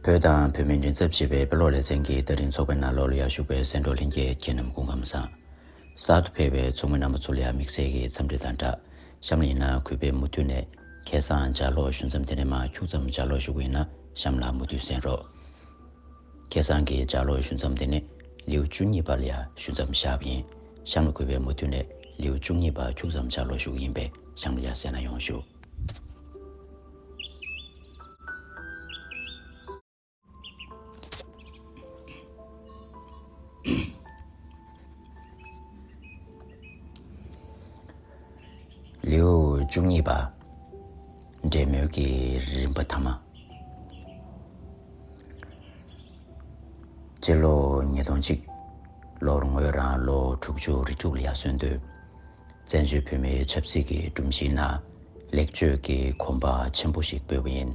བོད་དང་བོད་མི་མགྲིན་ཚབ་བྱེད་པའི་དཔེ་ཀློག་ལེ་ཚན་གྱི་ལྟ་རིན་ཚོགས་པའི་ནང་ལོགས་ལ་ཡར་ཞུགས་པའི་སེང་འབྲོག་ལྷན་རྒྱས་ཁྱེད་རྣམས་སྐུ་ཁམས་བཟང། གསར་དུ་ཕེབས་པའི་ཚོགས་མི་རྣམ་པ་ཚོ་ལ་ཡང་དམིགས་བསལ་གྱི་འཚམས་འདྲི་དང་སྦྲགས་གཤམ་ལ་ཡིན་ན་གུས་པས་མུ་མཐུད་ནས་ཁྱེད་བཟང་ལྗགས་ཀློག་ཞུ་མཚམས་དེ་ནས་མ་འཁྱུག་ཙམ་ལྗགས་ཀློག་ཞུ་དགོས་ཡིན་ན་གཤམ་ལ་མུ་མཐུད་གསན་རོགས། ཁྱེད་བཟང་གི་ལྗགས་ཀློག་ཞུ་མཚམས་དེ་ནི་ལེའུ་བཅུ་གཉིས་པ་ལ་ཡར་ཞུ་མཚམས་བཞག་པ་ཡིན། གཤམ་ལ་གུས་པས་མུ་མཐུད་ནས་ལེའུ་བཅུ་གཉིས་པ་འཁྱུག་ཙམ་ལྗགས་ཀློག་ཞུ་གི་ཡིན་པས་གཤམ་ལ་ཡར་གསན་ན་ཡོང་ཞུ། ལེའུ་བཅུ་གཉིས་པ་འབྲེལ་མོལ་གྱི་རིམ་པ་ཐ་མ་སྤྱི་ལོ་ཉིས་སྟོང་གཅིག་ལོར་ངོས་རང་ལོ་དྲུག་ཅུ་རེ་དྲུག་ལ་ཡར་སོན་དུས་བཙན་བྱོལ་བོད་མིའི་ཆབ་སྲིད་ཀྱི་སྒྲོམ་གཞིའི་ནང་ལེགས་བཅོས་ཀྱི་གོམ་པ་ཆེན་པོ་ཞིག་སྤོས་པ་ཡིན།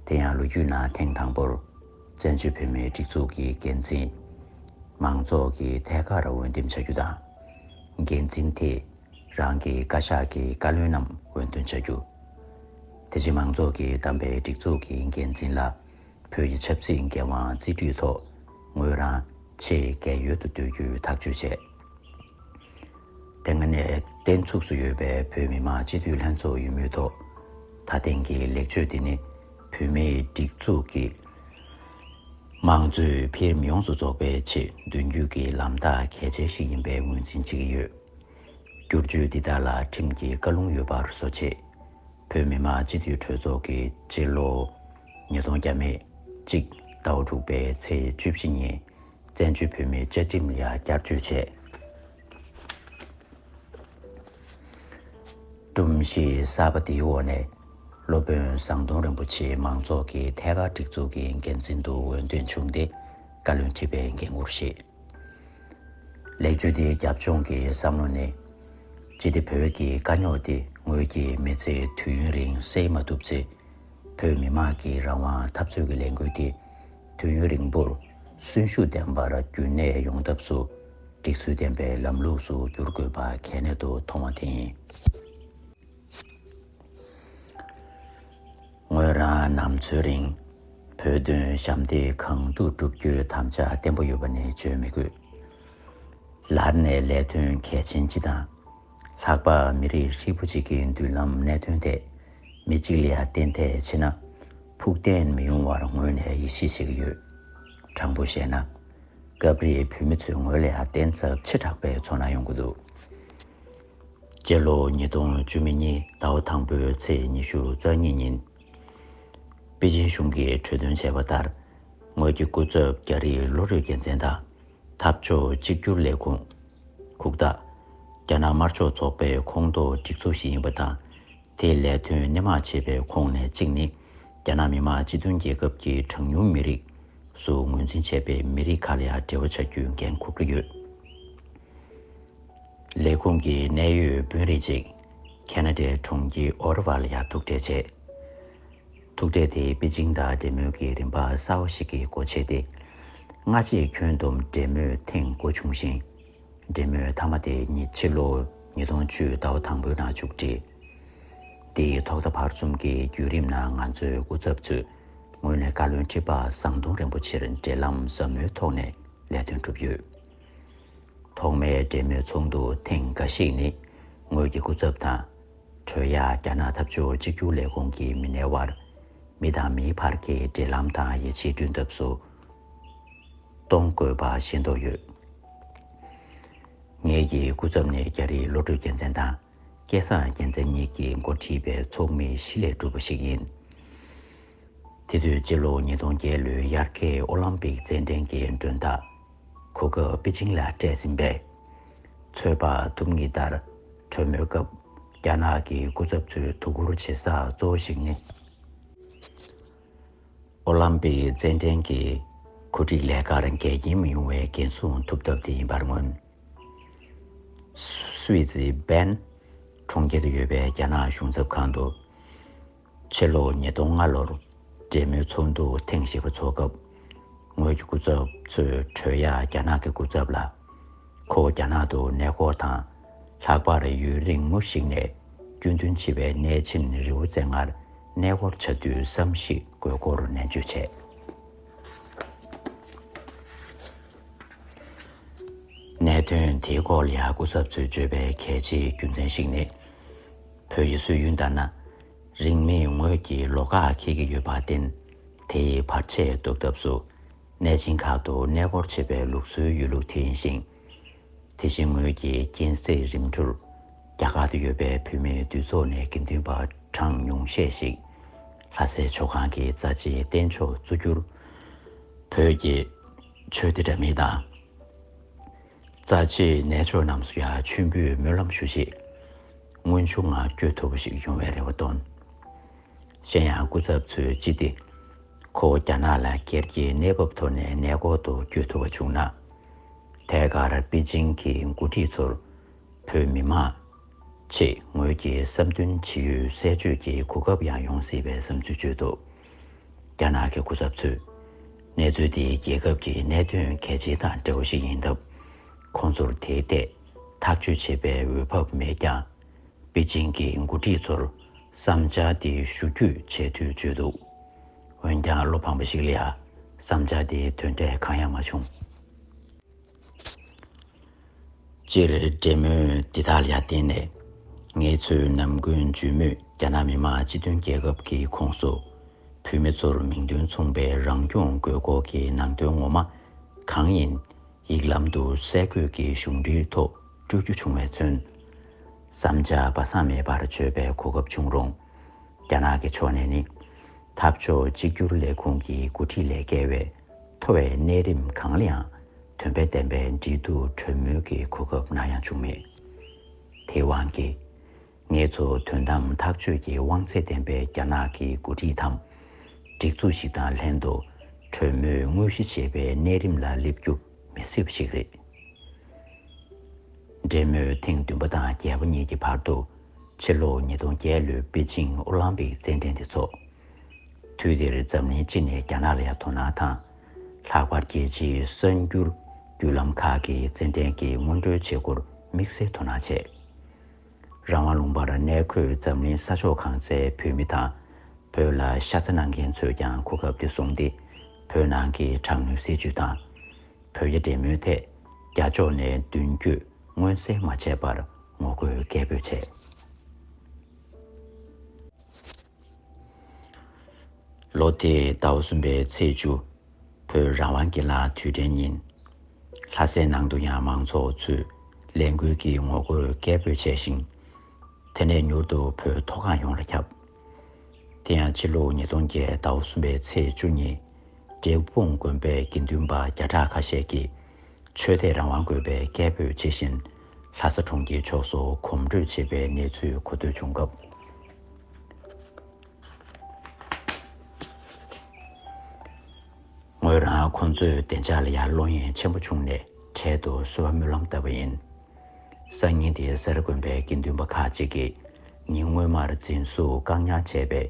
དེ་ཡང་ལོ་རྒྱུས་ནང་ཐེངས་དང་པོར་བཙན་བྱོལ་བོད་མིའི་སྒྲིག་འཛུགས་ཀྱི་འགན་འཛིན། མང་ཚོགས་ཀྱིས་ཐད་ཀར་འོས་འདེམས་བྱ་རྒྱུ་དང། འགན་འཛིན་དེས་རང་གི་བཀའ་ཤག་གི་བཀའ་བློན་རྣམས་འོས་འདོན་བྱ་རྒྱུ། དེ་བཞིན་མང་ཚོགས་ཀྱིས་བདམས་པའི་སྒྲིག་འཛུགས་ཀྱི་འགན་འཛིན་ལ་བོད་ཀྱི་ཆབ་སྲིད་འགན་དབང་རྩིས་སྤྲོད་ཐོག་ངོས་རང་ཆེས་རྒས་ཡོལ་དུ་སྡོད་རྒྱུའི་ཐག་གཅོད་བྱས། དེ་སྔ་ནས་བརྟན་ཚུགས་སུ་ཡོད་པའི་བོད་མི་མང་སྤྱི་འཐུས་ལྷན་ཚོགས་ཡིན་མུས་ཐོག་ད་ཐེངས་ཀྱི་ལེགས་བཅོས་དེ་ནི་བོད་མིའི་སྒྲིག་འཛུགས་ཀྱི་དམངས་གཙོའི་འཕེལ་རིམ་ཡོངས་སུ་རྫོགས་པའི་ཆེད་མདུན་སྐྱོད་ཀྱི་ལམ་ཐག་གལ་ཆེན་ཞིག་ཡིན་པའི་ངོས་འཛིན་བྱེད་ཀྱི་ཡོད། བསྒྱུར་བཅོས་འདི་དག་ལ་ཁྲིམས་ཀྱི་བཀའ་ལུང་ཡོད་པར་བཟོ་ཆེད། བོད་མི་མང་སྤྱི་འཐུས་གྲོས་ཚོགས་ཀྱི་སྤྱི་ལོ་ཉིས་སྟོང་བརྒྱ་མེད་གཅིག་ཟླ་བ་དྲུག་པའི་ཚེས་བཅུ་བཞི་ཉིན་བཙན་བྱོལ་བོད་མིའི་བཅའ་ཁྲིམས་ལ་བསྐྱར་བཅོས་བྱས། སྒྲོམ་གཞི་གསར་པ་དེའི་འོག་ནས། སློབ་དཔོན་ཟམ་གདོང་རིན་པོ་ཆེ་མང་ཚོགས་ཀྱི་ཐད་ཀར་སྒྲིག་འཛུགས་ཀྱི་འགན་འཛིན་དུ་འོས་འདོན་བྱུང་སྟེ་བཀའ་བློན་ཁྲི་པའི་འགན་ཁུར་བཞེས། ལེགས་བཅོས་དེའི་རྒྱབ་ལྗོངས་ཀྱི་བསམ་བློ་ནི། ཅི་སྟེ་བོད་ཀྱི་དཀའ་རྙོག་འདི་ངོས་ཀྱིས་མི་ཚེ་དུས་ཡུན་རིང་སེལ་མ་ཐུབ་ཚེ། བོད་མི་དམངས་ཀྱི་རང་དབང་འཐབ་རྩོད་ཀྱི་ལས་འགུལ་འདི་དུས་ཡུན་རིང་པོར་གསོན་ཤུགས་ལྡན་པར་བསྐྱུར་ནས་ཡོང་ཐབས་སུ་སྒྲིག་ཚུལ་ལྡན་པའི་ལམ་ལུགས་སུ་བསྒྱུར་དགོས་པ་གལ་གནད་དུ་མཐོང་བ་དེ་ཡིན། ངོས་རང་ནམ་འཚོའི་རིང་བོད་དོན་ཞབས་འདེགས་གང་ཐུབ་བསྒྲུབ་རྒྱུའི་དམ་བཅའ་བརྟན་པོ་ཡོད་པ་ནི་བརྗོད་མི་དགོས། ལར་ནས་ལས་དོན་གལ་ཆེན་སྤྱི་དང། ལྷག་པར་མི་རིགས་ཧྲིལ་པོ་གཅིག་གི་མདུན་ལམ་གནད་དོན་ཐད་མི་གཅིག་ལས་གཏན་ཐད་ཕྱིན་ན་ཕུགས་བརྟན་མི་ཡོང་བར་ངོས་ནས་ཡིད་ཆེས་བྱེད་ཀྱི་ཡོད། དྲང་པོ་བཤད་ན། སྐབས་རེ་བོད་མི་ཚོས་ངོས་ལས་གཏན་ཚབས་ཆེ་དྲགས་པའི་ཚོར་སྣང་ཡོང་གི་འདུག་སྤྱི་ལོ་ཉིས་སྟོང་བཅུ་མེ་གཉིས་ཟླ་བ་དང་པོའི་ཚེས་ཉི་ཤུ་རྩ་གཉིས་ཉིན། པེ་ཅིན་གཞུང་གིས་གྲོས་དོན་བྱས་པ་ལྟར་ངོས་ཀྱི་སྐུ་ཚབ་རྒྱ་རིགས་ལོ་རེའི་དགེ་མཚན་དང་འཐབ་ཕྱོགས་གཅིག་གྱུར་ལས་ཁུངས། ཁུག་རྟ། རྒྱ་ནག་དམར་ཕྱོགས་ཚོགས་པའི་ཁོངས་གཏོགས་སྒྲིག་འཛུགས་ཤིག་ཡིན་པ་དང། དེས་ལས་དོན་སྣེ་མང་བྱེད་པའི་ཁོངས་ནས་གཅིག་ནི། རྒྱ་ནག་མི་དམངས་སྤྱི་མཐུན་རྒྱལ་ཁབ་ཀྱི་གྲངས་ཉུང་མི་རིགས། སུ་ངོས་འཛིན་བྱས་པའི་མི་རིགས་ཁག་ལ་ཡང་འབྲེལ་བ་བྱ་རྒྱུའི་འགན་འཁུར་གྱི་ཡོད། ལས་ཁུངས་ཀྱི་གནད་ཡོད་དཔོན་རིགས་གཅིག་ཁེ་ན་ཏའི་གྲོང་ཁྱེར་ཨོ་རི་བྷ་ལ་ཡང་ཐུག་འཕྲད་བྱས། ཐུག་འཕྲད་དེ་པེ་ཅིང་དང་འབྲེལ་མོལ་གྱི་རིམ་པ་གསར་བ་ཞིག་གི་སྒོ་ཕྱེས་ཏེ། སྔ་རྗེས་ཁྱོན་བསྡོམས་འབྲེལ་མོལ་ཐེངས་དགུ་བྱུང་ཞིང། འབྲེལ་མོལ་མཐའ་མ་དེ་ཉིད་ཕྱི་ལོ་ཉིས་སྟོང་བཅུ་ཟླ་བ་དང་པོའི་ནང་མཇུག་བསྒྲིལ། དེའི་ཐོག་མཐའ་བར་གསུམ་གྱི་བརྒྱུད་རིམ་ནང་ང་ཚོའི་སྐུ་ཚབ་ཚོས་ངོས་ནས་བཀའ་བློན་ཁྲི་པ་ཟམ་གདོང་རིན་པོ་ཆེར་འབྲེལ་ལམ་ཟབ་མོའི་ཐོག་ནས་ལས་དོན་བསྒྲུབས་ཡོད། ཐོག་མའི་འབྲེལ་མོལ་ཚོགས་འདུ་ཐེངས་འགའ་ཞིག་ནི་ངོས་ཀྱི་སྐུ་ཚབ་དང་གྲོས་ཡག་རྒྱ་ནག་འཐབ་ཕྱོགས་གཅིག་གྱུར་ལས་ཁུངས་ཀྱི་མི་སྣའི་དབར། མི་དང་མིའི་བར་གྱི་འབྲེལ་ལམ་དང་ཡིད་ཆེས་བསྐྲུན་ཐབས་སུ་གཏོང་དགོས་པ་ཤེས་རྟོགས་ཡོད། ངེད་ཀྱིས་སྐུ་ཚབ་ནས་རྒྱ་རིགས་བློ་གྲོས་རྒྱལ་མཚན་དང་སྐལ་བཟང་རྒྱལ་མཚན་གཉིས་ཀྱི་མགོ་ཁྲིད་པའི་ཚོགས་མི་བཞི་ལས་གྲུབ་པ་ཞིག་ཡིན། དེ་དུས་སྤྱི་ལོ་ཉིས་སྟོང་བརྒྱད་ལོའི་དབྱར་ཁའི་ཨོ་ལམ་པིག་རྩེད་འགྲན་གྱི་མགྲོན་བདག་གོ་སྐབས་པེ་ཅིང་ལ་སྤྲད་ཟིན་པས། ཚོད་དཔག་ཐུབ་ངེས་ལྟར་གྲོས་མོལ་སྐབས་རྒྱ་ནག་གི་སྐུ་ཚབ་ཚོས་དོ་ཁུར་བྱེད་ས་གཙོ་བོ་ཞིག་ནི། ཨོ་ལམ་པིག་རྩེད་འགྲན་གྱི་གོ་སྒྲིག་ལས་ཀར་འགལ་རྐྱེན་མི་ཡོང་བའི་འགན་སྲུང་ཐུབ་ཐབས་དེ་ཡིན་པར་མངོན། སུད་སི་བྷན་གྲོང་ཁྱེར་དུ་ཡོད་པའི་རྒྱ་ནག་གཞུང་ཚབ་ཁང་དུ། ཕྱི་ལོ་ཉིས་སྟོང་ལྔ་ལོར་རྒྱལ་མོའི་ཚོགས་འདུ་ཐེངས་བཞི་པ་ཚོགས་སྐབས། ངོས་ཀྱི་སྐུ་ཚབ་ཚོས་གྲོས་ཡག་རྒྱ་ནག་གི་སྐུ་ཚབ་ལ། ཁོ་བོ་རྒྱ་ནག་ཏུ་གནས་སྐོར་དང་ལྷག་པར་ཡུན་རིང་མོ་ཞིག་ནས་སྐྱོན་འདོན་བྱེད་པའི་གནས་ཆེན་རི་བོ་རྩེ་ལྔར་གནས་སྐོར་བྱ་དུས་བསམ་གཞིག་དགོས་སྐོར་ནན་བརྗོད་བྱས། གནད་དོན་དེའི་སྐོར་ལ་སྐུ་ཚབ་ཚོས་བརྗོད་པའི་གལ་ཆེའི་རྒྱུ་མཚན་ཞིག་ནི། བོད་ཡུལ་སྲོལ་ཡུན་དར་ན། རིང་མིན་ངོས་ཀྱི་ལོ་ཁ་ཁེལ་གྱི་ཡོད་པར་བརྟེན། དེ་ཡི་བར་ཆད་བཟློག་ཐབས་སུ། གནས་ཆེན་ཁག་ཏུ་གནས་སྐོར་བྱེད་པའི་ལུགས་སྲོལ་ཡོད་ལུགས་དེ་ཡིན་ཞིང། དེ་བཞིན་ངོས་ཀྱི་རྐྱེན་གསེག་རིམ་གྲུར། རྒྱ་གར་དུ་ཡོད་པའི་བོད་མི་འདུས་ཚོགས་ནས་དགེ་འདུན་པ་གྲངས་ཉུང་ཤས་ཤིག། ལྷ་སའི་ཆོས་ཁང་གི་རྩ་ཆེའི་རྟེན་མཆོག་གཙོ་གྱུར་བོད་ཀྱི་ཆོས་སྡེ་འདྲ་མིན་དང། རྩ་ཆེའི་གནས་མཆོག་རྣམས་སུ་ཡང་མཆོད་འབུལ་སྨོན་ལམ་ཞུ་ཆེད་དངོས་བྱུང་ངང་བསྐྱོད་ཐུབ་པ་ཞིག་ཡོང་བའི་རེ་བ་བཏོན། གཞན་ཡང་སྐུ་ཚབ་ཚོས་ཅི་སྟེ་ཁོ་བོ་རྒྱ་ནག་ལ་གྱེར་རྒྱའི་གནས་བབ་ཐོག་ནས་ནད་སྐོར་དུ་བསྐྱོད་ཐུབ་པ་བྱུང་ན། ཐད་ཀར་པེ་ཅིང་གི་འགོ་ཁྲིད་ཚོར་བོད་མི་མང་ཆེས་ངོས་ཀྱི་བསམ་འདུན་ཇི་ཡོད་གསལ་བརྗོད་ཀྱི་གོ་སྐབས་ཡང་ཡོང་སྲིད་པའི་བསམ་ཚུལ་བརྗོད་འདུག། རྒྱ་ནག་གི་སྐུ་ཚབ་ཚོས། གནས་ཚུལ་འདི་རྒྱལ་ཁབ་ཀྱི་གནད་དོན་གལ་ཆེན་དང་འབྲེལ་བ་ཞིག་ཡིན་སྟབས། ཁོང་ཚོར་དེའི་ཐད་ཐག་གཅོད་བྱེད་པའི་འོས་བབ་མེད་ཀྱང། པེ་ཅིང་གི་མགོ་ཁྲིད་ཚོར་བསམ་འཆར་དེ་ཞུ་རྒྱུ་བྱས་ཚུལ་བརྗོད་འདུག་འོན་ཀྱང་བློ་ཕམ་པ་ཞིག་ལ། བསམ་འཆར་དེའི་དོན་འབྲས་གང་ཡང་མ་བྱུང། སྤྱིར་འབྲེལ་མོལ་འདི་དག་ལ་བརྟེན་ནས་ངས་ཚོའི་ནམ་རྒུན་འཇུས་མོད་རྒྱ་ནག་མི་དམངས་སྤྱི་མཐུན་རྒྱལ་ཁབ་ཀྱི་ཁོངས་སུ་བུད་མེད་ཚོར་མིང་དོན་མཚུངས་པའི་རང་སྐྱོང་དགོས་སྐོར་གྱི་ནང་དོན་ངོ་མ་གང་ཡིན་ཡིག་ལམ་དུ་གསལ་འཁོད་ཀྱིས་གཞུང་འབྲེལ་ཐོག་སྤྲོད་རྒྱུ་བྱུང་བས་མཚོན། བསམ་འཆར་སྦ་གསང་མེད་པར་བརྗོད་པའི་གོ་སྐབས་བྱུང་རུང། རྒྱ་ནག་གི་ཕྱོགས་ནས་ནི། འཐབ་ཕྱོགས་གཅིག་གྱུར་ལས་ཁུངས་ཀྱི་འགོ་ཁྲིད་ལས་བརྒལ་བའི་མཐོ་བའི་གནས་རིམ་གང་ལའང་དོན་ཕན་ལྡན་པའི་འབྲེལ་གཏུག་གྲོས་མོལ་གྱི་གོ་སྐབས་ནམ་ཡང་བྱུང་མེད། དེའི་དབང་གིས། ངེད་ཚོ་དོན་དམ་ཐག་གཅོད་ཀྱི་དབང་ཚད་ལྡན་པའི་རྒྱ་ནག་གི་འགོ་ཁྲིད་དང་སྒྲིག་འཛུགས་ཤིག་དང་ལྷན་དུ་གྲོས་མོལ་དངོས་གཞི་བྱེད་པའི་གནས་རིམ་ལ་སླེབས་རྒྱུ་མི་སྲིད་པ་ཞིག་རེད། འབྲེལ་མོལ་ཐེངས་བདུན་པ་དང་བརྒྱད་པ་གཉིས་ཀྱི་བར་དུ་ཕྱི་ལོ་ཉིས་སྟོང་བརྒྱད་ལོའི་པེ་ཅིང་ཨོ་ལམ་པིག་རྩེད་འགྲན་དེ་ཚོགས། དུས་དེར་འཛམ་གླིང་སྤྱི་ནས་རྒྱ་ནག་ལ་ཡང་དོ་སྣང་དང། ལྷག་པར་རྒྱལ་སྤྱིའི་གསར་འགྱུར་བརྒྱུད་ལམ་ཁག་གིས་རྩེད་འགྲན་གྱི་སྔོན་འགྲོའི་བྱེད་སྒོར་དམིགས་བསལ་དོ་སྣང་བྱས། རང་དབང་ལུང་པར་གནས་འཁོད་འཛམ་གླིང་ས་ཕྱོགས་གང་སའི་བོད་མི་དང། བོད་ལ་ཤ་ཚ་གནང་མཁན་ཚོས་ཀྱང་གོ་སྐབས་དེ་བཟུང་སྟེ་བོད་ནང་གི་དྲག་གནོན་སྲིད་བྱུས་དང། བོད་རྒྱ་འབྲེལ་མོལ་ཐད་རྒྱ་ཕྱོགས་ནས་མདུན་བསྐྱོད་མངོན་གསལ་མ་བྱས་པར་ངོ་རྒོལ་སྐད་འབོད་བྱས། ལོ་དེའི་ཟླ་བ་གསུམ་པའི་ཚེས་བཅུ། བོད་རང་དབང་གི་ལ་དུས་དྲན་ཉིན། ལྷ་སའི་ནང་དུ་ཡང་མང་ཚོགས་ཚོས་ལས་འགུལ་གྱི་ངོ་རྒོལ་སྐད་འབོད་བྱས་ཤིང། དེ་ནས་མྱུར་དུ་བོད་མཐོ་སྒང་ཡོངས་ལ་ཁྱབ། དེ་ཡང་ཕྱི་ལོ་ཉིས་སྟོང་བརྒྱད་ཟླ་བ་གསུམ་པའི་ཚེས་བཅུ་ཉིན། འབྲས་སྤུངས་དགོན་པའི་དགེ་འདུན་པ་བརྒྱ་ཕྲག་ཁ་ཤས་ཀྱིས། ཆོས་དད་རང་དབང་དགོས་པའི་སྐད་འབོད་བྱེད་བཞིན། ལྷ་ས་གྲོང་ཁྱེར་ཕྱོགས་སུ་གོམ་བགྲོད་བྱེད་པའི་གནས་ཚུལ་གོ་ཐོས་བྱུང་སྐབས། ངོས་རང་ཁོང་ཚོའི་བདེ་འཇགས་ལ་ཡང་བློ་ངན་ཆེན་པོ་བྱུང་ནས་འཕྲལ་དུ་གསོལ་བ་སྨོན་ལམ་བཏབ་པ་ཡིན། སང་ཉིན་དེ་སེ་ར་དགོན་པའི་དགེ་འདུན་པ་ཁག་ཅིག་གིས་ཉིན་སྔོན་མར་འཛིན་བཟུང་བཀག་ཉར་བྱས་པའི་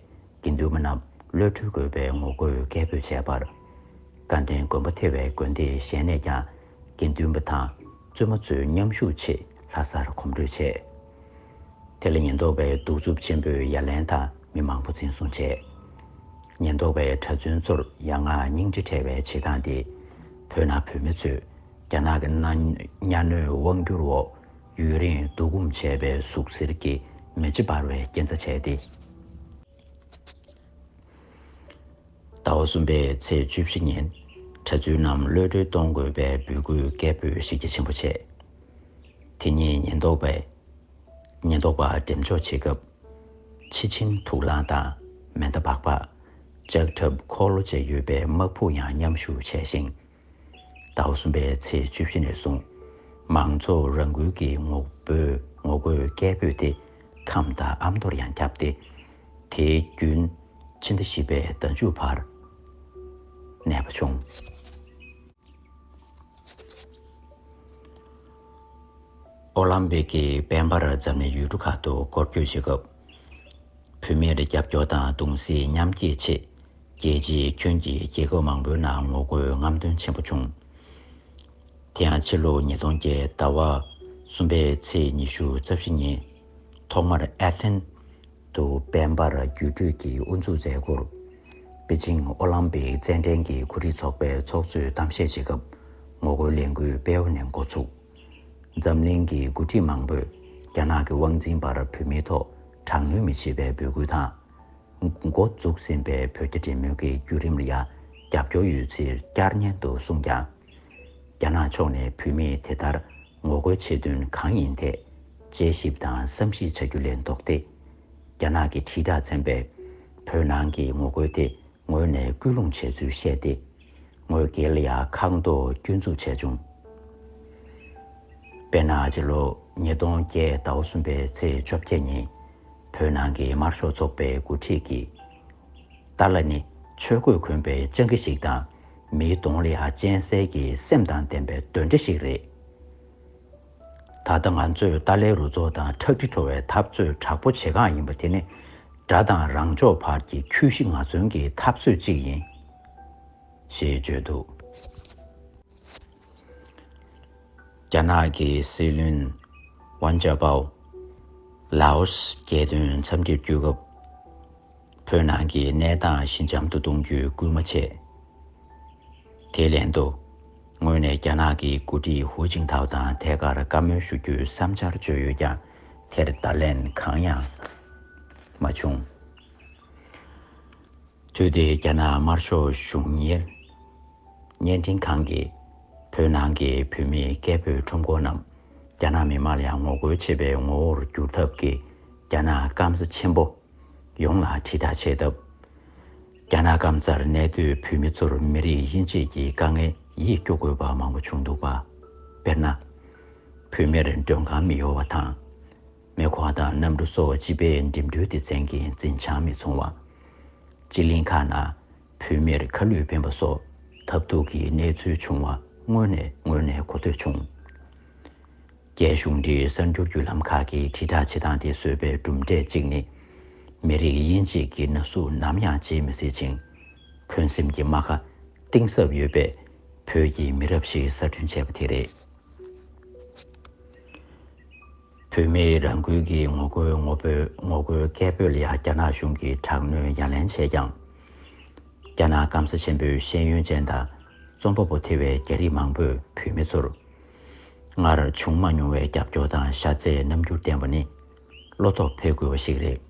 དགེ་འདུན་པ་རྣམས་གློད་གྲོལ་དགོས་པའི་ངོ་རྒོལ་སྐད་འབོད་བྱས་པར། དགའ་ལྡན་དགོན་པ་ཐེ་བའི་དགོན་སྡེའི་གཞན་ནས་ཀྱང་དགེ་འདུན་པ་དང་བཙུན་མ་ཚོའི་མཉམ་ཞུགས་ཆེད་ལྷ་སར་གོམ་བགྲོད་བྱས། དེ་ལ་ཉེན་རྟོག་པས་གདུག་རྩུབ་ཆེན་པོས་ཡ་ལན་དང་མི་མང་པོ་འཛིན་བཟུང་བྱས། ཉེན་རྟོག་པས་གྲྭ་བཙུན་ཚོར་ཡ་ང་སྙིང་རྗེ་བྲལ་བའི་བྱེད་སྟངས་དེས། བོད་ནང་བོད་མི་ཚོས་རྒྱ་ནག་གི་གཉའ་གནོན་དབང་བསྒྱུར་འོག་ཡུན་རིང་བསྡུ་སྒོམ་བྱས་པའི་ཟུག་གཟེར་གྱི་མེ་ལྕེ་འབར་བའི་རྐྱེན་རྩ་བྱས་ཏེ། ཟླ་བ་གསུམ་པའི་ཚེས་བཅུ་བཞི་ཉིན་གྲྭ་བཙུན་རྣམས་གློད་གྲོལ་གཏོང་དགོས་པའི་འབོད་སྐུལ་སྐད་འབོད་ཤིག་རྒྱ་ཆེན་པོ་བྱས། དེ་ཉིན་ཉེན་རྟོག་པས་ཉེན་རྟོག་པ་འགྲེམས་འཇོག་བྱེད་སྐབས། ཕྱི་ཆིངས་དུག་རླངས་དང་མེ་མདའ་སྦག་སྦག། ལྕགས་ཁྲབ་འཁོར་ལོ་བཅས་ཡོད་པའི་དམག་ཕུག་ཡང་མཉམ་ཞུགས་བྱས་ཤིང། ཟླ་བ་གསུམ་པའི་ཚེས་བཅུ་བཞི་ནས་བཟུང། མང་ཚོགས་རང་འགུལ་གྱི་ངོ་རྒོལ་སྐད་འབོད་དེ་ཁམས་དང་ཨ་མདོར་ཡང་ཁྱབ་སྟེ། དེའི་རྒྱུན་ཕྱི་ཟླ་བཞི་པའི་ཟླ་མཇུག་བར་གནས་པ་བྱུང། ཨོ་ལམ་པིག་གི་དཔལ་འབར་འཛམ་གླིང་ཡུལ་གྲུ་ཁག་ཏུ་སྐོར་སྐྱོད་བྱེད་སྐབས། བོད་མིར་རྒྱབ་སྐྱོར་དང་གདུང་སེམས་མཉམ་སྐྱེད་ཆེད། རྒྱལ་སྤྱིའི་ཁྱོན་གྱི་རྒྱལ་ཁབ་མང་པོའི་ནང་ངོ་རྒོལ་རྔམ་སྟོན་ཆེན་པོ་བྱུང། དེ་ཡང་ཕྱི་ལོ་ཉིས་སྟོང་བརྒྱད་ཟླ་བ་གསུམ་པའི་ཚེས་ཉི་ཤུ་རྩ་བཞི་ཉིན། ཐོག་མར་ཨེ་ཐེན། དུ་དཔལ་འབར་རྒྱུད་སྤྲུལ་གྱིས་དབུ་འཛུགས་མཛད། སྐོར། པེ་ཅིང་ཨོ་ལམ་པིག་རྩེད་འགྲན་གྱི་གོ་སྒྲིག་ཚོགས་པའི་ཚོགས་གཙོས་གཏམ་བཤད་བྱེད་སྐབས་ངོ་རྒོལ་ལས་འགུལ་དཔལ་ཨོ་ནས་འགོ་ཚུགས། འཛམ་གླིང་གི་འགོ་ཁྲིད་མང་པོས་རྒྱ་ནག་གི་དབང་འཛིན་པར་བོད་མིའི་ཐོག་དྲག་གནོན་མི་བྱེད་པའི་འབོད་སྐུལ་དང། འགོ་འཛུགས་ཟིན་པའི་བོད་རྒྱ་འབྲེལ་མོལ་གྱི་བརྒྱུད་རིམ་ལ་ཡང་རྒྱབ་སྐྱོར་ཡོད་ཚུལ་བསྐྱར་ནན་དུ་གསུངས་ཀྱང། རྒྱ་ནག་ཕྱོགས་ནས་བོད་མིས་དེ་ལྟར་ངོ་རྒོལ་བྱེད་དོན་གང་ཡིན་ཐད་དཔྱད་ཞིབ་དང་བསམ་གཞིག་བྱ་རྒྱུ་ལས་ལྡོག་སྟེ། རྒྱ་ནག་གི་དྲིལ་བསྒྲགས་ཚན་པས་བོད་ནང་གི་ངོ་རྒོལ་དེ་ངོས་ནས་སྐུལ་སློང་བྱས་ཚུལ་བཤད་དེ། ངོས་བསྐལ་ཡག་ཁག་མདོ་བསྐྱོད་འཛུགས་བྱས་བྱུང། དཔེར་ན་སྤྱི་ལོ་ཉིས་སྟོང་བརྒྱད་ཟླ་བོ་གསུམ་པའི་ཚེས་བཅོ་བརྒྱད་ཉིན། བོད་ནང་གི་དམར་ཤོག་ཚོགས་པའི་འགོ་ཁྲིད་ཀྱིས། ཏཱ་ལ་ནི་ཆོས་གོས་གོན་པའི་སྤྱང་ཀི་ཞིག་དང། མིའི་གདོང་ལ་ཡང་སྤྱན་གསལ་གྱི་སེམས་དང་ལྡན་པའི་གདོན་འདྲེ་ཞིག་རེད། ད་ལྟ་ང་ཚོས་ཏཱ་ལའི་རུ་ཚོགས་དང་ཁྲག་དྲི་བྲོ་བའི་འཐབ་རྩོད་དྲག་པོ་བྱེད་སྒང་ཡིན་པ་དེ་ནི། དགྲ་དང་རང་ཕྱོགས་བར་གྱི་ཁྱོད་བཞི་ང་བརྩོན་གྱི་འཐབ་རྩོད་ཅིག་ཡིན། ཞེས་བརྗོད་འདུག། རྒྱ་ནག་གི་སྲིད་བློན། Wen Jiabao། ལའོ་སི་རྒྱལ་དོན་འཚམས་འདྲིར་བསྐྱོད་སྐབས། བོད་ནང་གི་གནས་སྟངས་ཞི་འཇམ་དུ་གཏོང་རྒྱུའི་སྐུལ་མ་བྱས། དེའི་ལན་དུ། ངོས་ནས་རྒྱ་ནག་གི་མགོ་ཁྲིད་ཧུའུ་ཅིང་ཐའོ་དང་ཐད་ཀར་བཀའ་མོལ་ཞུ་རྒྱུའི་བསམ་འཆར་བརྗོད་ཡོད་ཀྱང་དེར་བརྡ་ལན་གང་ཡང་མ་བྱུང། དུས་དེའི་རྒྱ་ནག་དམར་ཤོག་གཞུང་གཉེར་བརྙན་འཕྲིན་ཁང་གིས་བོད་ནང་གི་བོད་མི་སྐད་འབོད་ཁྲོམ་སྐོར་རྣམས་རྒྱ་ནག་མི་དམངས་ལ་ངོ་རྒོལ་བྱེད་པའི་ངོ་བོར་བསྒྱུར་ཐབས་ཀྱིས་རྒྱ་ནག་སྐམ་ས་ཆེན་པོ་ཡོངས་ལ་དྲིལ་བསྒྲགས་བྱས་སྟབས། རྒྱ་ནག་སྐམ་སར་གནས་སྡོད་བོད་མི་ཚོར་མི་རིགས་དབྱེ་འབྱེད་ཀྱི་དཀའ་ངལ་ཡིད་སྐྱོ་དགོས་པ་མང་པོ་བྱུང་འདུག་པ། དཔེར་ན། བོད་མིར་མགྲོན་ཁང་མི་གཡོ་བ་དང། མེ་འཁོར་དང་གནམ་གྲུ་སོགས་སྤྱི་པའི་འགྲིམ་འགྲུལ་སྡེ་ཚན་གྱི་འཛིན་བྱང་མི་འཚོང་བ། སྤྱི་གླིང་ཁག་ནང་བོད་མིར་ཁ་བསླུས་འཕེན་པ་སོགས་ཐབས་རྡུགས་ཀྱི་གནས་ཚུལ་བྱུང་བ་དངོས་ནས་ངོས་ནས་གོ་ཐོས་བྱུང། རྒྱའི་གཞུང་འབྲེལ་གསར་འགྱུར་བརྒྱུད་ལམ་ཁག་གིས་དྲིལ་བསྒྲགས་བྱེད་སྟངས་དེ་བཟོས་པའི་གྲུབ་འབྲས་གཅིག་ནི། མི་རིགས་དབྱེ་འབྱེད་ཀྱི་ན་ཟུག་ནམ་ཡང་བརྗེད་མི་སྲིད་ཅིང། འཁོན་སེམས་ཀྱི་རྨ་ཁ་གཏིང་ཟབ་ཡོད་པའི་བོད་ཀྱི་མི་རབས་ཤིག་གསར་སྐྲུན་བྱས་པ་དེ་རེད། བོད་མིས་རང་འགུལ་གྱིས་ངོ་རྒོལ་ངོ་བོས་ངོ་རྒོལ་སྐད་འབོད་ལ་རྒྱ་ནག་གཞུང་གིས་དྲག་གནོན་ཡ་ལན་བྱས་ཀྱང། རྒྱ་ནག་སྐམ་ས་ཆེན་པོའི་ཤེས་ཡོན་ཅན་དང་རྩོམ་པ་པོ་ཐེ་བའི་རྒྱ་རིགས་མང་པོས་བོད་མི་ཚོར། སྔར་བྱུང་མ་མྱོང་བའི་རྒྱབ་སྐྱོར་དང་ཤ་ཚའི་རྣམ་འགྱུར་བསྟན་པ་ནི་བློ་དོགས་འཕེལ་དགོས་པ་ཞིག་རེད།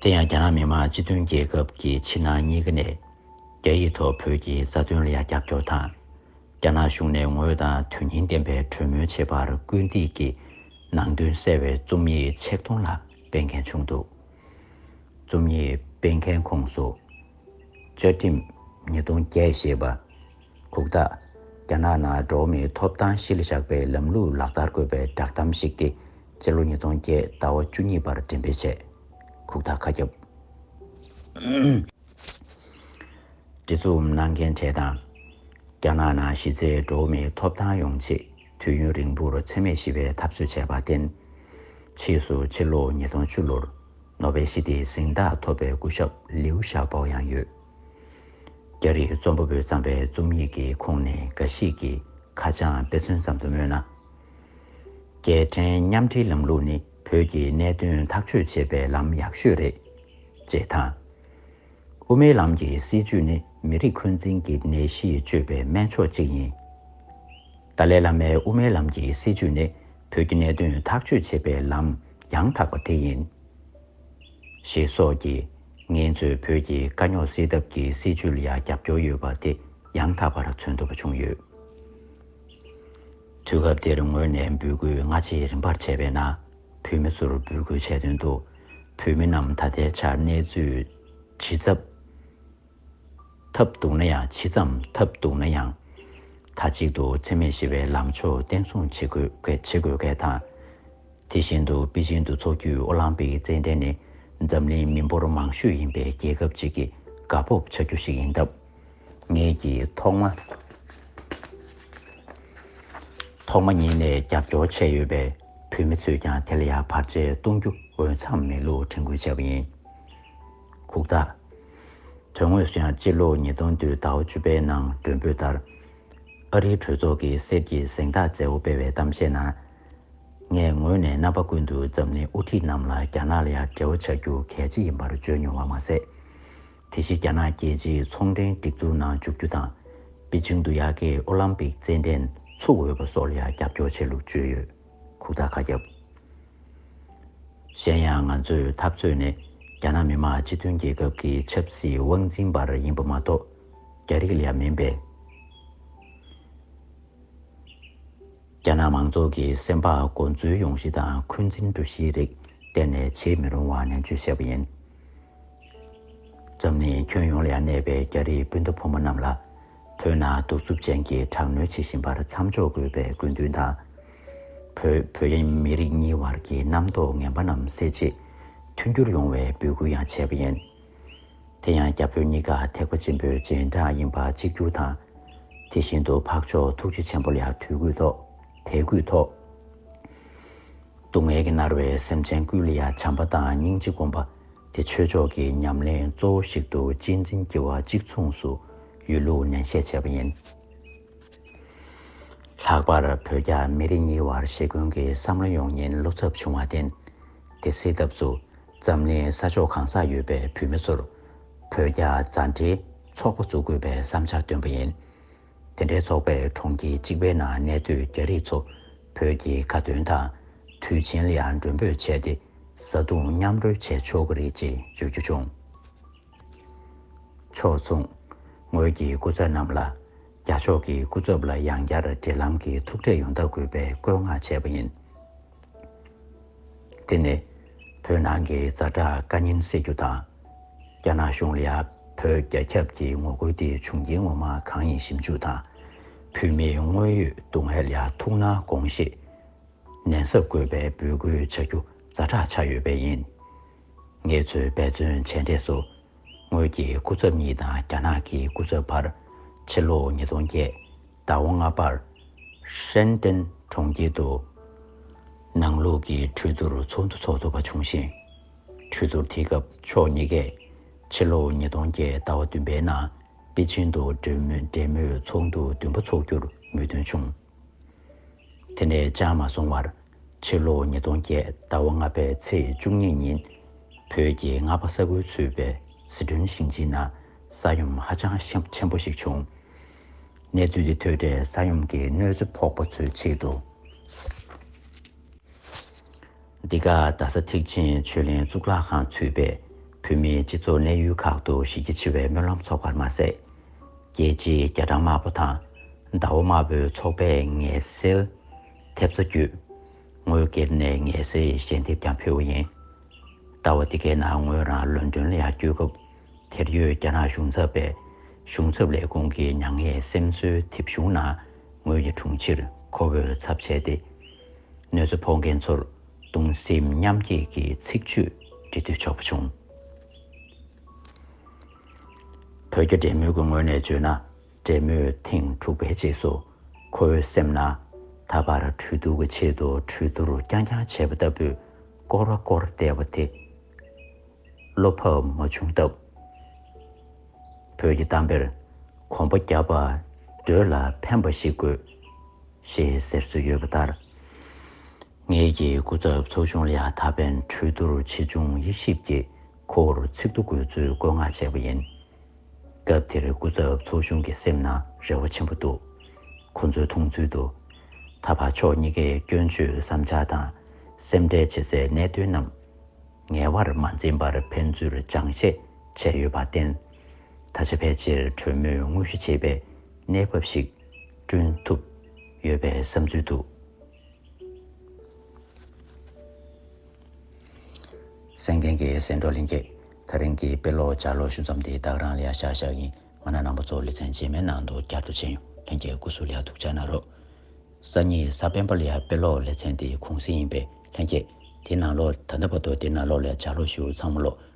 དེ་ཡང་རྒྱ་ནག་མི་དམངས་སྤྱི་མཐུན་རྒྱལ་ཁབ་ཀྱི་ཕྱི་ནང་གཉིས་ཀ་ནས་རྒྱ་ཡིག་ཐོག་བོད་ཀྱི་རྩ་དོན་ལ་ཡང་རྒྱབ་སྐྱོར་དང། རྒྱ་ནག་གཞུང་ནས་ངོས་དང་དོན་སྙིང་ལྡན་པའི་གྲོས་མོལ་བྱེད་པར་སྐུལ་འདེད་ཀྱི་ནང་དོན་གསལ་བའི་རྩོམ་ཡིག་ཆིག་སྟོང་ལྷག་སྤེལ་མཁན་བྱུང་འདུག་རྩོམ་ཡིག་སྤེལ་མཁན་ཁོངས་སུ། བཅའ་ཁྲིམས་ཉིས་སྟོང་བརྒྱད་ཞེས་པ། གུག་རྟགས། རྒྱ་ནག་ནང་འགྲོ་མིའི་ཐོབ་ཐང་ཤེས་ལ་བཞག་པའི་ལམ་ལུགས་ལག་བསྟར་དགོས་པའི་བསྒྲགས་གཏམ་ཞིག་སྟེ་སྤྱི་ལོ་ཉིས་སྟོང་བརྒྱད་ཟླ་བ་བཅུ་གཉིས་པར་འགྲེམས་སྤེལ་བྱས། གུག་རྟགས་ཁ་ཁྱབ། འབྲེལ་འཛུགས་གནང་མཁན་གྲས་དང། རྒྱ་ནག་ནང་གཞི་རྩའི་འགྲོ་མིའི་ཐོབ་ཐང་ཡོང་ཆེད་དུས་ཡུན་རིང་པོར་འཚེ་མེད་ཞི་བའི་འཐབ་རྩོད་བྱས་པར་བརྟེན། ཕྱིས་སུ་ཕྱི་ལོ་ཉིས་སྟོང་བཅུ་ལོར་ནོ་བེལ་ཞི་བདེའི་གཟེངས་རྟགས་ཐོབ་པའི་སྐུ་ཞབས་ལིའུ་ཞའོ་པོ་ཡང་ཡོད། རྒྱ་རིགས་རྩོམ་པ་པོས་བརྩམས་པའི་རྩོམ་ཡིག་གི་ཁོངས་ནས་འགའ་ཞིག་གི་ཁ་བྱང་དཔེ་མཚོན་ཙམ་དུ་སྨོས་ན། རྒྱལ་ཕྲན་མཉམ་འབྲེལ་ལམ་ལུགས་ནི་བོད་ཀྱི་གནད་དོན་ཐག་གཅོད་བྱེད་པའི་ལམ་ཡག་ཤོས་རེད། ཅེས་དང། དབུ་མའི་ལམ་གྱི་སྲིད་བྱུས་ནི་མི་རིགས་འཁོན་འཛིན་གྱི་ནད་གཞི་བཅོས་པའི་སྨན་མཆོག་ཅིག་ཡིན། ཏཱ་ལའི་བླ་མའི་དབུ་མའི་ལམ་གྱི་སྲིད་བྱུས་ནི་བོད་ཀྱི་གནད་དོན་ཐག་གཅོད་བྱེད་པའི་ལམ་ཡང་དག་པ་དེ་ཡིན། ཞེས་སོགས་ཀྱིས། ངས་ཚོས་བོད་ཀྱི་དཀའ་རྙོག་སེལ་ཐབས་ཀྱི་སྲིད་བྱུས་ལ་ཡང་རྒྱབ་སྐྱོར་ཡོད་པ་དེ་ཡང་དག་པར་མཚོན་ཐུབ་པ་བྱུང་ཡོད། དུས་སྐབས་འདིར་ངོས་ནས་འབོད་སྐུལ་སྔ་ཕྱི་རིམ་པར་བྱས་པས་ན། བོད་མི་ཚོར་འབོད་སྐུལ་བྱས་དོན་དུ། བོད་མི་རྣམས་ད་ལྟའི་ཆར་གནས་ཚུལ་ཇི་ཙམ་ཐབས་སྡུག་ན་ཡང་ཇི་ཙམ་ཐབས་སྡུག་ན་ཡང། མཐའ་གཅིག་ཏུ་འཚེ་མེད་ཞི་བའི་ལམ་ཕྱོགས་བརྟན་སྲུང་བྱེད་དགོས་གལ་དང། དེ་བཞིན་དུ་པེ་ཅིན་དུ་འཚོགས་རྒྱུའི་ཨོ་ལམ་པིག་གི་རྩེད་འགྲན་ནི་འཛམ་གླིང་མི་འབོར་མང་ཤོས་ཡིན་པའི་རྒྱལ་ཁབ་ཅིག་གིས་དགའ་སྤོབས་བྱ་རྒྱུ་ཞིག་ཡིན་སྟབས། ངེད་ཀྱིས་ཐོག་མ་ཐོག་མ་ཉིད་ནས་རྒྱབ་སྐྱོར་བྱས་ཡོད་པས་བོད་མི་ཚོས་ཀྱང་དེ་ལ་ཡང་བར་ཆད་གཏོང་རྒྱུ་འོས་འཚམས་མེད་ལུགས་དྲན་སྐུལ་བྱས་པ་ཡིན། ཁུག་རྟ། དོན་དངོས་སུ་ཡང་སྤྱི་ལོ་ཉིས་སྟོང་དུས་ཟླ་བ་བཅུ་པའི་ནང་མགྲོན་འབོད་ལྟར། ཨ་རིའི་གྲོས་ཚོགས་ཀྱིས་གསེར་གྱི་གཟེངས་རྟགས་མཛད་སྒོ་སྤེལ་བའི་གཏམ་བཤད་ནང། ངས་ངོས་ནས་རྣམ་པ་ཀུན་ཏུ་འཛམ་གླིང་དབུ་ཁྲིད་རྣམས་ལ་རྒྱ་ནག་ལ་ཡང་འབྲེལ་བ་བྱ་རྒྱུ་གལ་ཆེ་ཡིན་པར་བརྗོད་མྱོང་བ་མ་ཟད། དེ་བཞིན་རྒྱ་ནག་རྒྱལ་སྤྱིའི་ཚོང་འབྲེལ་སྒྲིག་འཛུགས་ནང་འཇུག་རྒྱུ་དང། པེ་ཅིང་དུ་ཡག་གེ་ཨོ་ལམ་པིག་རྩེད་འགྲན་ཚུགས་འོས་པ་སོགས་ལ་ཡང་རྒྱབ་སྐྱོར་བྱས་ལུགས་བརྗོད་ཡོད། ཁུག་རྟ་ཁ་རྒྱབ། གཞན་ཡང་ང་ཚོས་འཐབ་རྩོད་ནི་རྒྱ་ནག་མི་དམངས་སྤྱི་མཐུན་རྒྱལ་ཁབ་ཀྱི་ཆབ་སྲིད་དབང་འཛིན་པར་ཡིན་པ་མ་གཏོགས་རྒྱ་རིགས་ལ་མིན་པས། རྒྱ་ནག་མང་ཚོགས་ཀྱི་སེམས་པ་མགོ་འཛུལ་ཡོང་གཞི་དང་འཁོན་འཛིན་འགྲོ་གཞིའི་རིགས་གཏན་ནས་བྱེད་མི་རུང་བ་ནན་བརྗོད་བྱས་པ་ཡིན། འཛམ་གླིང་ཁྱོན་ཡོངས་ལ་ཡང་གནས་པའི་རྒྱ་རིགས་སྤུན་ཟླ་ཕོ་མོ་རྣམས་ལ། བོད་ནང་གདུག་རྩུབ་ཅན་གྱི་དྲག་གནོན་བྱེད་བཞིན་པར་མཚམས་འཇོག་དགོས་པའི་དགོས་འདུན་དང། བོད་བོད་ཡན་མི་རིགས་གཉིས་བར་གྱི་རྣམ་རྟོག་ངན་པ་རྣམས་སེལ་ཆེད་མཐུན་འགྱུར་ཡོང་བའི་འབོད་སྐུལ་ཡང་བྱས་པ་ཡིན། དེ་ཡང་རྒྱ་བོད་གཉིས་ཀ་ཐེག་པ་ཆེན་པོའི་རྗེས་འབྲངས་ཡིན་པ་གཅིག་གྱུར་དང། དེ་བཞིན་དུ་འཕགས་མཆོག་ཐུགས་རྗེ་ཆེན་པོ་ལ་དུས་གུས་ཐོག་དད་གུས་ཐོག། སྡུག་བསྔལ་གྱིས་མནར་བའི་སེམས་ཅན་ཀུན་ལ་ཡང་བྱམས་པ་དང་སྙིང་རྗེ་སྒོམ་པ་དེ་ཆོས་ཕྱོགས་ཀྱི་ཉམས་ལེན་གཙོ་བོ་ཞིག་ཏུ་གཅེས་འཛིན་བགྱི་བ་གཅིག་མཚུངས་སུ་ཡོད་ལུགས་ནན་བཤད་བྱས་པ་ཡིན། ལྷག་པར་བོད་རྒྱ་མི་རིགས་གཉིས་བར་ཞེ་འཁོན་གྱི་བསམ་བློ་ཡོང་ཉེན་བློ་འཚབ་བྱུང་བར་བརྟེན། དེ་སེལ་ཐབས་སུ། འཛམ་གླིང་ས་ཕྱོགས་གང་སར་ཡོད་པའི་བོད་མི་ཚོར། བོད་རྒྱ་མཛའ་འབྲེལ་ཚོགས་པ་འཛུགས་དགོས་པའི་བསམ་འཆར་བཏོན་པ་ཡིན། དེ་འདྲའི་ཚོགས་པས་གྲོང་ཁྱེར་གཅིག་པའི་ནང་གནས་སྡོད་རྒྱ་རིགས་ཚོ་བོད་ཀྱི་དགའ་སྟོན་དང། དུས་ཆེན་ལ་ཡང་མགྲོན་འབོད་བྱས་ཏེ་བཟའ་བཏུང་མཉམ་རོལ་བྱས་ཆོག་གི་རེད་ཅེས་བརྗོད་རྒྱུ་བྱུང། ཕྱོགས་མཚུངས། ངོས་ཀྱི་སྐུ་ཚབ་རྣམས་ལ། རྒྱ་ཕྱོགས་ཀྱི་སྐུ་ཚབ་ལ་ཡང་བསྐྱར་འབྲེལ་ལམ་གྱི་ཐུག་འཕྲད་ཡོང་ཐབས་དགོས་པའི་བཀོད་མངགས་བྱས་པ་ཡིན། དེ་ནི་བོད་ནང་གི་རྫ་དྲག་བཀའ་རྙིང་སེལ་རྒྱུ་དང། རྒྱ་ནག་གཞུང་ལ་བོད་རྒྱ་ཁྱབ་ཀྱི་ངོ་རྒོལ་དེ་བྱུང་རྐྱེན་ངོ་མ་གང་ཡིན་ཞིབ་འཇུག་དང། བོད་མིའི་དངོས་ཡོད་སྡུག་བསྔལ་ལ་ཐུགས་སྣང་དགོངས་བཞེས། ནན་གཟབ་དགོས་པའི་འབོད་སྐུལ་བྱ་རྒྱུ་རྫ་དྲག་ཆགས་ཡོད་པས་ཡིན། ངེད་ཚོས་འབད་བརྩོན་བྱས་འབྲས་སུ་ངོས་ཀྱི་སྐུ་ཚབ་གཉིས་དང་རྒྱ་ནག་གི་སྐུ་ཚབ་བར་ཕྱི་ལོ་ཉིས་སྟོང་བརྒྱད་ཟླ་བ་ལྔ་པར་ཧྲན་ཏེན་གྲོང་ཁྱེར་དུ་ནང་ལུགས་ཀྱི་གྲོས་བསྡུར་ཚོགས་འདུ་འཚོགས་ཐུབ་པ་བྱུང་ཞིང། གྲོས་བསྡུར་དེའི་སྐབས་ཕྱོགས་གཉིས་ཀས་ཕྱི་ལོ་ཉིས་སྟོང་བརྒྱད་ཟླ་བ་བདུན་པའི་ནང་པེ་ཅིང་དུ་འབྲེལ་མོལ་ཚོགས་འདུ་བདུན་པ་འཚོགས་རྒྱུར་མོས་མཐུན་བྱུང། དེ་ནས་ཅང་མ་སོང་བར། ཕྱི་ལོ་ཉིས་སྟོང་བརྒྱད་ཟླ་བ་ལྔ་པའི་ཚེས་བཅུ་གཉིས་ཉིན། བོད་ཀྱི་རྔ་པ་ས་ཁུལ་ཚུད་པའི་ཟི་ཁྲོན་ཞིང་ཆེན་ན་ས་ཡོམ་ཧ་ཅང་ཆེན་པོ་ཞིག་བྱུང། གནས་ཚུལ་དེ་ཐོས་འཕྲལ་ས་ཡོམ་གྱི་གནོད་འཚེ་ཕོག་པ་ཚོའི་ཆེད་དུ། འདི་ག་རྡ་ས་ཐེག་ཆེན་ཆོས་གླིང་གཙུག་ལག་ཁང་ཚུད་པའི་བོད་མིའི་སྤྱི་ཚོགས་གནས་ཡུལ་ཁག་ཏུ་གཞི་རྒྱ་ཆེ་བའི་སྨོན་ལམ་ཚོགས་པར་མ་ཟད། རྒྱལ་སྤྱིའི་རྒྱ་གྲམ་དམར་པོ་དང་ཟླ་བོ་དམར་པོའི་ཚོགས་པས་ངལ་སེལ། ཐེབས་རྩ་བརྒྱུད། ངོས་སྒེར་ནས་ངལ་སེལ་ཡི་ཞལ་འདེབས་ཀྱང་ཕུལ་བ་ཡིན། ལྟ་བ་འདི་གའི་ནང་ངོས་རང་ལོན་ཏོན་ལ་ཡང་བསྐྱོད་སྐབས་དེར་ཡོད་རྒྱ་ནག་གཞུང་ཚབ་པས་གཞུང་ཚབ་ལས་ཁུངས་ཀྱི་མྱ་ངན་སེམས་གསོའི་དེབ་གཞུང་ནང་ངོས་ཀྱི་དྲུང་ཕྱིར་ཁོ་བོས་ཚབ་བྱས་ཏེ། གནོད་འཚེ་ཕོག་མཁན་ཚོར་གདུང་སེམས་མཉམ་སྐྱེད་ཀྱི་ཚིག་བརྗོད་འབྲི་འདོད་ཆོག་པ་བྱུང། བོད་རྒྱ་འབྲེལ་མོལ་གྱི་ངོས་ནས་བརྗོད་ན་འབྲེལ་མོལ་ཐེངས་དྲུག་པའི་རྗེས་སུ་ཁོ་བོའི་སེམས་ན་ད་བར་གྲོས་བསྡུར་གྱི་ཆེད་དུ་གྲོས་བསྡུར་རྐྱང་རྐྱང་བྱས་པ་ལྟ་བུའི་སྐོར་བ་སྐོར་བལྟས་པ་དེ་བློ་ཕབ་མ་བྱུང་སྟབས། བོད་ཀྱི་གཏམ་དཔེར་གོམ་པ་བརྒྱབ་པ་འགྲོས་ལ་ཕན་པ་ཞིག་དགོས། ཞེས་ཟེར་སྲོལ་ཡོད་པ་ལྟར། ངེད་ཀྱི་སྐུ་ཚབ་ཚོགས་ཆུང་ལ་ད་ཕན་གྲོས་བསྡུར་ཆེ་ཆུང་དབྱེ་ཞིབ་ཀྱི་ཁོར་ཚིག་ཏུ་དགོས་ཚུལ་བཀོད་མངགས་བྱས་པ་ཡིན། སྐབས་དེར་སྐུ་ཚབ་ཚོགས་ཆུང་གི་སེམས་ན་རེ་བ་ཆེན་པོ་འདུག་ཁོ་ཚོའི་མཐོང་ཚུལ་དུ། ད་བར་ཕྱོགས་གཉིས་ཀས་སྐྱོན་བརྗོད་བསམ་འཆར་དང་སེམས་ཁྲལ་བྱེད་སའི་གནད་དོན་རྣམས་ངལ་བར་མ་འཛིན་པར་ཕན་ཚུན་སྦྱང་བཤད་བྱས་ཡོད་པར་བརྟེན། ད་ཆ་ཕལ་ཆེར་གྲོས་མོས་དངོས་གཞི་བྱེད་པའི་གནས་བབ་ཞིག་བསྐྲུན་ཐུབ་ཡོད་པའི་བསམ་ཚུལ་འདུག། སེང་ལྡེང་གི་སེང་འབྲོག་གླིང་གི་ཐག་རིང་གི་དཔེ་ཀློག་བྱ་ལོ་ཞུ་མཚམས་དེ་དག་རང་ལ་ཤག་ཤག་ཡིན་ང་ན་ནང་པ་ཚོ་ལེ་ཚན་རྗེས་མའི་ནང་དུ་བསྐྱར་དུ་ཕྱིན་ཡོང་ལྷན་གྱི་སྐུ་གཟུགས་ལ་ཐུགས་འཇགས་གནང་རོགས། སང་ཉིན་ས་པན་པ་ལ་དཔེ་ཀློག་ལེ་ཚན་དེ་གུང་གསེང་ཡིན་པས་ལྷན་གྱི་དེ་ནང་ལོགས་ད་ལྟ་བར་དུ་དེ་ནང་ལོགས་ལ་བྱ་ལོ་ཞུ་མཚམས་ཀློག